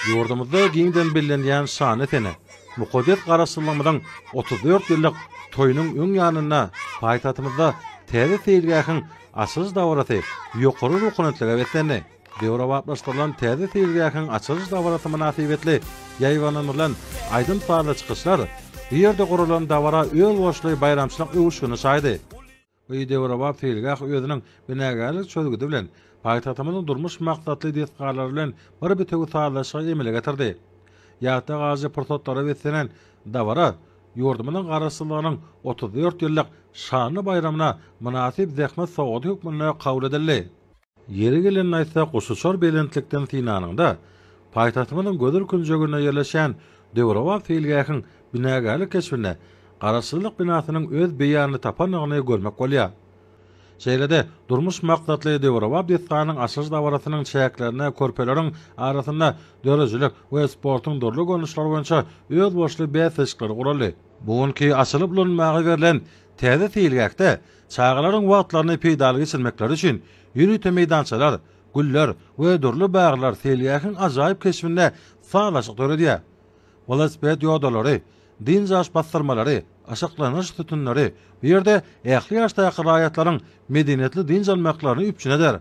Ýurdumyzda giňden bellenýän şanly sene, mukaddes Garaşsyzlygymyzyň otuz dört ýyllyk toýunyň öň ýanynda paýtagtymyzda täze seýilgähiň açylyş dabarasy ýokary ruhanyýetlige beslendi. Döwrebaplaşdyrylan täze seýilgähiň açylyş dabarasy mynasybetli ýaýbaňlandyrylan aýdym-sazly çykyşlar, bu ýerde guralan dabara özboluşly baýramçylyk öwüşgini çaýdy. Bu döwrebap seýilgäh özüniň binagärlik çözgüdi bilen, paýtagtymyzyň durmuş maksatly desgalary bilen bir bitewi sazlaşygy emele getirdi. Ýatda galyjy pursatlara beslenen dabara ýurdumyzyň Garaşsyzlygynyň otuz dört ýyllyk şanly baýramyna mynasyp zähmet sowgady hökmünde kabul edildi. Ýeri gelende aýtsak, guşuçar belentlikden synanyňda, paýtagtymyzyň gözel künjeginde ýerleşýän döwrebap seýilgähiň binagärlik keşbinde Garaşsyzlyk binasynyň öz beýanyny tapandygyny görmek bolýar. Şeýle-de, durmuş maksatly döwrebap desganyň açylyş dabarasynyň çäklerinde körpeleriň arasynda döredijilik we sportuň dürli görnüşleri boýunça özboluşly bäsleşikler guraldy. Bu günki açylyp ulanmaga berlen täze seýilgähde Çagalaryň wagtlaryny peýdaly geçirmekleri üçin ýörite meýdançalar, güller we dürli baglar seýilgähiň ajaýyp keşbinde sazlaşyk döredýär. Welosiped ýodalary, dynç alyş bassyrmalary, aşaklanyş sütünleri bu ýerde ähli ýaşdaky raýatlaryň medeniýetli dynç almaklaryny üpjün eder.